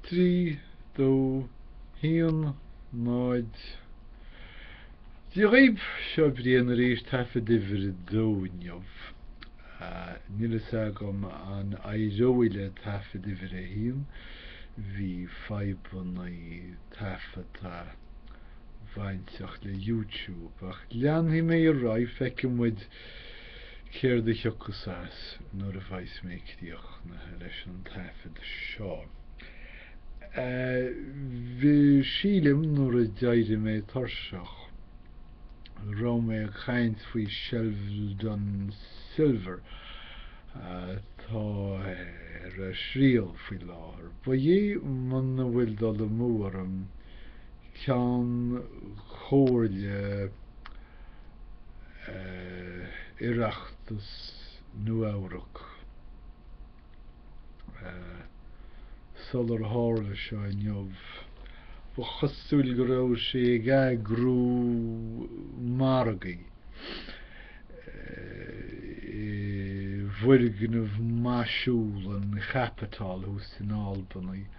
3, 2, 1, 0 Dia dhaoibh, seo Brian arís, taifead uimhir a dó inniu. Níl fhios agam an éireoidh le taifead uimhir a haon, bhí fadhbanna taifeadta bainteach le YouTube, ach leanfaidh mé ar aghaidh, feicfidh muid. Céard a thiocfas as nuair a bheas mé críochnaithe leis an taifead seo? Bhí, sílim, nuair a d'éirigh mé tuirseach. raibh mé ag caint faoi Sheldon Silver atá ar a thriail faoi láthair. Ba é, muna bhfuil dul amú orm Ceann Comhairle Oireachtais Nua-Eabhrac sular tharla seo inniu, ba chosúil go raibh sé ag eagrú margaí i bhfoirgneamh maisiúil an chaipitil thuas in Albany.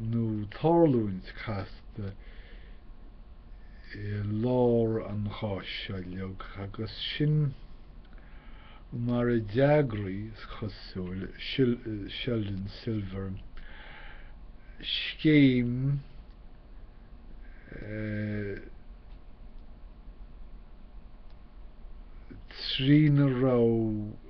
nó tarlúint casta i lár an cháis seo uilig, agus sin mar a d'eagraigh, is cosúil, Sheldon Silver scéim trína raibh.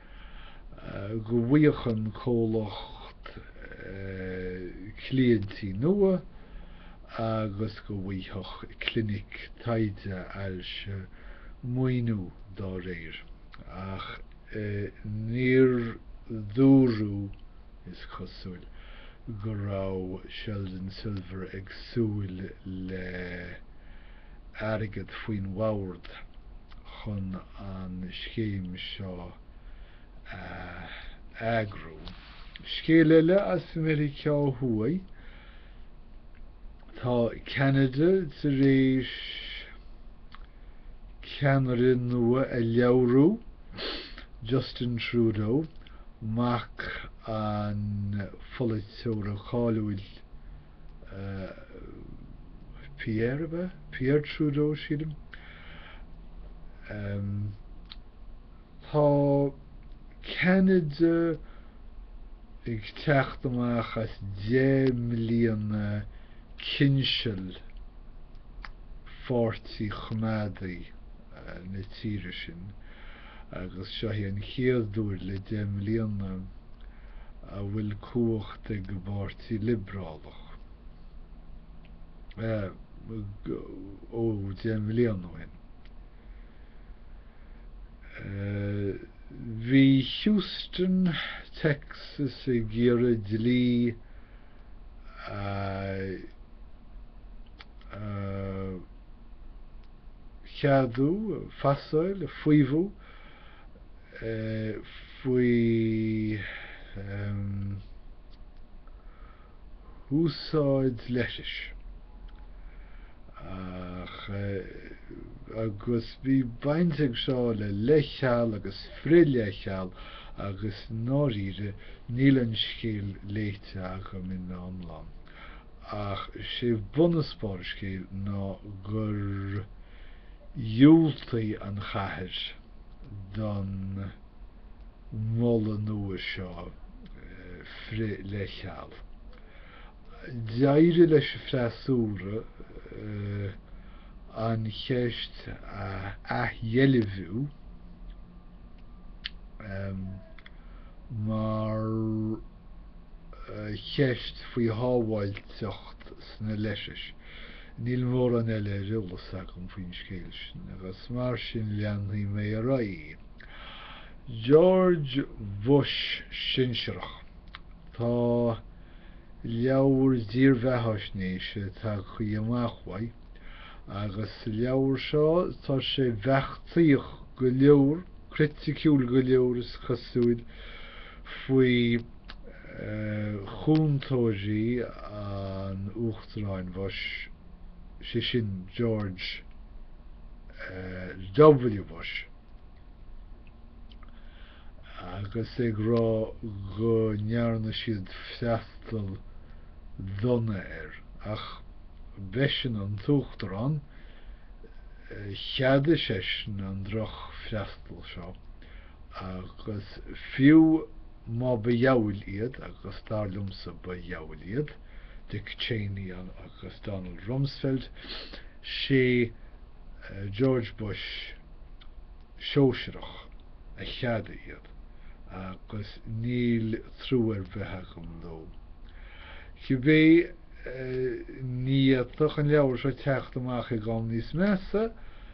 go bhfaigheadh an comhlacht cliaintí nua agus go bhfaigheadh Clinic Taighde Ailse maoiniú dá réir, ach níor dúradh, is cosúil, go raibh Sheldon Silver ag súil le. airgead faoin bhord chun an scéim seo a eagrú. Scéal eile as Meiriceá Thuaidh, tá Ceanada tar éis ceannaire nua a roghnú, Justin Trudeau, mac an pholaiteora cáiliúil Pierre ab ea? Pierre Trudeau sílim. Um, tá Canada ag teacht amach as 10 mbliana cinseal pháirtí choimeádaí uh, na tíre sin. agus seo í an chéad uair le deich mbliana a bhfuil cumhacht ag an bPáirtí Liobrálach, ó deich mbliana ó shin bhí Houston, Texas ag iarraidh dlí a cheadú, pasáil, faomhadh, faoi úsáid leithris ach agus bhí baint ag seo le leithcheal agus frith-leithcheal agus i ndáiríre níl an scéal léite agam ina iomlán. ach is é bun agus barr an scéil ná gur dhiúltaigh an chathair don mholadh nua seo frith-leithcheal. D'éirigh leis an bhfreasúra an cheist a athdheilbhiú mar. cheist faoi shábháilteacht sna leithris. Níl mórán eile ar eolas agam faoin scéal sin agus mar sin leanfaidh mé ar aghaidh. George Bush sinsearach. Tá leabhar dírbheathaisnéise tagtha amach uaidh agus sa leabhar seo tá sé beachtaíoch go leor, criticiúil go leor is cosúil. faoi chúntóirí an Uachtaráin Bush, sé sin George W. Bush, agus ag rá go ndearna siad freastal dona air. Ach b'eisean an tUachtarán, cheadaigh seisean an drochfhreastal seo. Agus fiú má ba dhiabhail iad, agus dar liomsa ba dhiabhail iad, Dick Cheney agus Donald Rumsfeld, 'sé George Bush Sóisearach a cheadaigh iad agus níl trua ar bith agam dó. Cibé ní fhéadfadh an leabhar seo teacht amach ag am níos measa,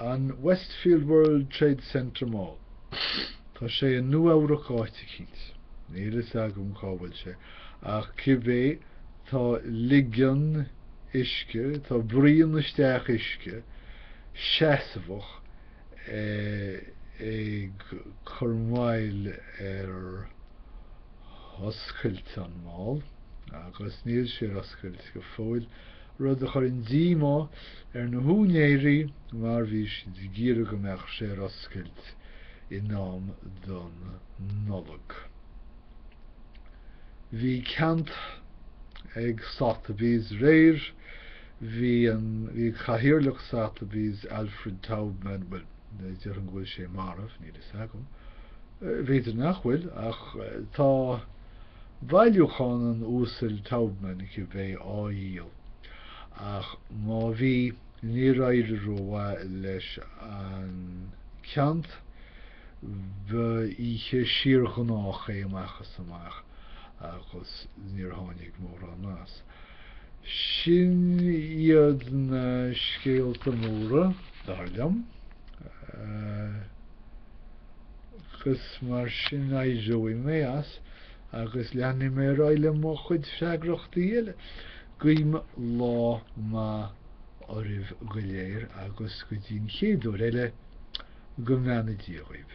An Westfield World Trade Centre Mall. Tá sé i Nua Eabhrac áit eicínt. Níl a fhios agam cá bhfuil sé. Ach cibé, tá ligean uisce, tá braon isteach uisce seasmhach ag cur moill ar oscailt an mall agus níl sé ar oscailt go fóill. rud a chuireann díomá ar na húinéirí mar bhí siad ag iarraidh go mbeadh sé ar oscailt in am don Nollaig. Bhí ceant ag Sotheby's aréir, bhí an, bhí cathaoirleach Sotheby's Alfred Taubman, bhuel, déarfainn go bhfuil sé marbh, níl a fhios agam, b'fhéidir nach bhfuil ach tá, Bailiúchán an Uasail Taubman acu le bheith á dhíol ach má bhí níor éirigh rómhaith leis an gceant. Ba oíche siar ghnách é amach is amach agus níor tháinig mórán as. Sin iad na scéalta móra, dar liom. agus mar sin éireoidh mé as agus leanfaidh mé ar aghaidh le mo chuid freagrachtaí eile. Guím lá maith oraibh go léir agus go dtí an chéad uair eile, go mbeannaí Dia dhaoibh.